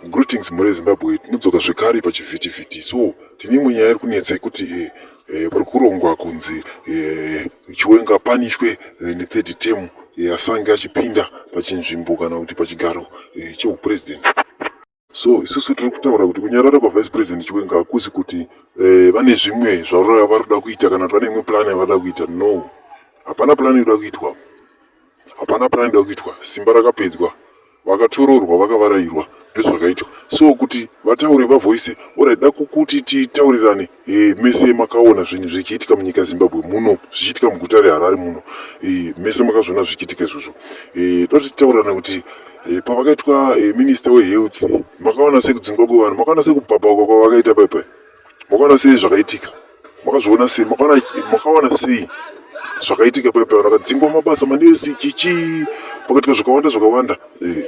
Greetings mhuri yeZimbabwe, tinodzoka zvekare pachivhitivhiti. So tine imwe nyaya iri kunetsa yekuti eh, eh, pari kurongwa kunzi eh, Chiwenga apanishwe eh, nethird term eh, asange achipinda pachinzvimbo kana kuti pachigaro eh, chehupresident. So isusu tiri kutaura kuti kunyarara kwaVice President Chiwenga hakusi kuti eh, vane zvimwe zvavari kuda kuita kana kuti vane imwe plan yavari kuda kuita. No, hapana plan iri kuda kuitwa. hapana panoenda kuitwa simba rakapedzwa vakatororwa vakavarairwa ndozvakaitwa so kuti vataure vavoise orit da kukuti titaurirane e, mese makaona zvinhu zvichiitika munyika zimbabwe muno zvichiitika muguta reharare muno e, mese makazviona zvichiitika izvozvo e, toti titaurirane kuti e, pavakaitwa e, minista wehealth makaona sekudzingwa kwevanhu makaona sekubhabhauka kwavakaita paipai makaona sei zvakaitika makazviona sei makawana sei zvakaitika paipa vakadzingwa mabasa manesi chichi pakaitika zvakawanda zvakawanda eh,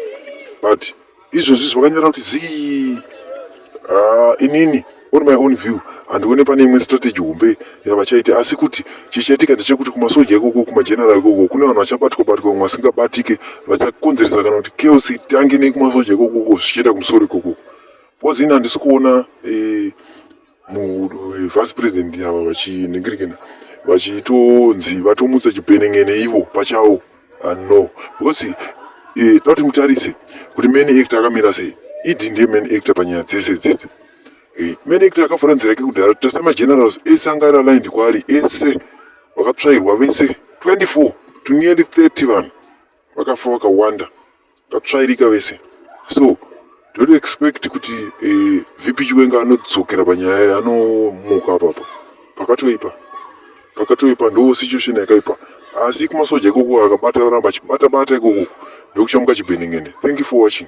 but izvozvi zvakanyara kuti zii ah, inini on my own view handione pane imwe strategy hombe yavachaita asi kuti chichaitika ndechekuti kumasoja ikoko kumajenera ikoko kune vanhu vachabatwa batwa vamwe vasingabatike vachakonzeresa kana kuti chaos itange nekumasoja ikokoko zvichienda kumusoro ikokoko Kozi ini handisi kuona eh, vice president ava vachiningirikana vachitonzi vatomutsa chipenengene ivo pachavo ah, no because eh, toda kuti mutarise kuti main actor akamira sei idi ndiye main actor panyaya dzese dzidzi eh, main actor akavhura nzira yake kudhara tasa magenerals ese anga ari aligned kwaari ese vakatsvairwa vese 24 to nearly 30 vanhu vakafa vakawanda tatsvairika vese so don't expect kuti eh, vp chiwenga anodzokera panyaya yaye anomuka apapa pakatoipa pakatoipa ndo situation yakaipa asi kumasoja ikoko akabata aramba achibata bata ikoko ndokuchamuka chibhenengene thank you for watching